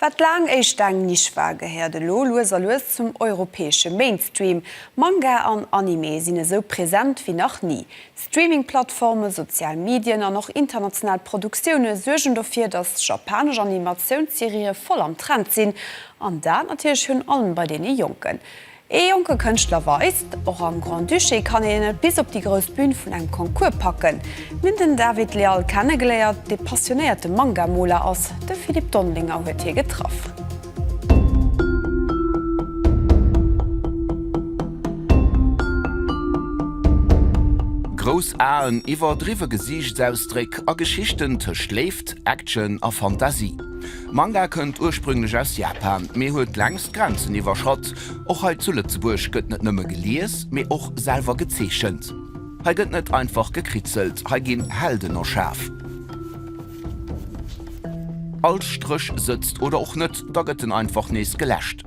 Wat laang éischt eng Nisch war, gehéiert elo lues a lues zum europäesche Mainstream. Manga an Anime sinn esou present wéi nach ni. Streaming-Plattformen, sozial Medien an och international Produktioune suergen dofir, datt japanesch Animatiouns-Serië voll am Trend sinn. An dat natierlech virun allem bei deene Jonken. Ee jonke Kënschtler weist, Och am Grand-Duché kann een et bis op déi grouss Bün vun engem Concours packen. Mir hunn den David Leal kennegeléiert, dee passionéierte Manga-Moler ass. De Philippe Dondelinger huet hie getraff. Grouss Aen, iwwerdriwwe Gesiichtsausdréck a Geschichten tëscht Léift, Action a Fantasie. Manga kënnt ursprünglech aus Japan, mee huet längst d'Grenzen iwwerschratt. Och hei zu Lëtzebuerg gëtt net nëmme gelies, mee och selwer gezeechent. Hei gëtt net einfach gekritzelt, hei ginn Helden erschaf. All Stréch sëtzt oder och net, da gëtt en einfach nees geläscht.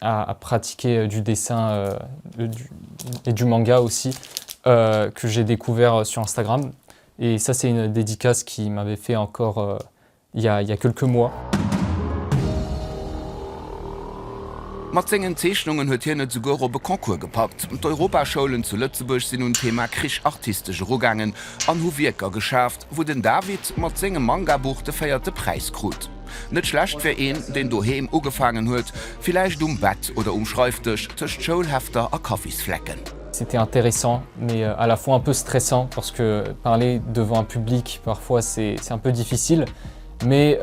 à pratiquer du dessin et du manga aussi que j'ai découvert sur Instagram et ça c'est une dédicace qui m'avait fait encore il ya il ya quelques mois. Mat sengen Zeechnungen huet hien et souguer op e Concours gepackt. D'Europaschoulen zu Lëtzebuerg sinn un d'Thema Krich artistesch erugaangen an hu Wierker geschaf, wou den David mat sengem Mangabuch de véierte Präis krut. Net schlecht fir een, deen doheem ugefaangen huet, villäicht um Bett oder um Schreifdësch tëscht Schoulhefter a Kaffisflecken. C'était intéressant, mais à la fois un peu stressant parce que parler devant un public parfois c'est un peu difficile, mais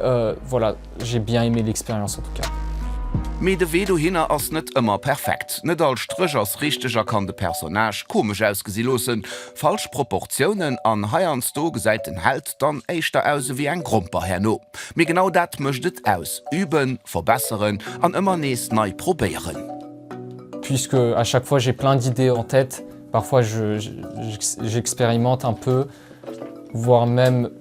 voilà j'ai bien aimé l'expérience en tout cas. Mee de Wee dohinner ass net ëmmer perfekt. Net all Stréch ass richteg a kann de Personnage komesch ausgesi loossen, Falsch Proportiounen an heiansdo gesäit den Held dann éischter aus ewéi eng Gromper herno. Mee genau dat mécht et aus, üben, verbesseren an ëmmer nees nei probéieren. Puisque à chaque fois j'ai plein d'idées en tête, parfois j'expérimente un peu, voire même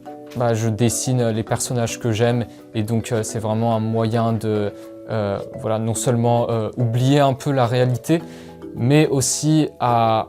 je dessine les personnages que j'aime et donc c'est vraiment un moyen de non seulement oublier un peu la réalité mais aussi à.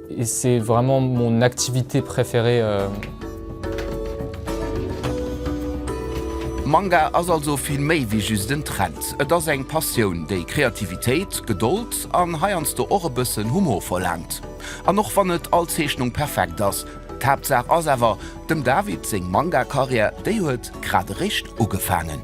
Et c'est vraiment mon activité préférée. Manga ass also vill méi wéi just en Trend. Et ass eng Passioun, déi Kreativitéit, Gedold an heiansdo och e bëssen Humor verlaangt. An och wann net all Zeechnung perfekt ass, d'Haaptsaach ass awer, dem David seng Manga-Karriär, déi huet grad eréischt ugefaangen.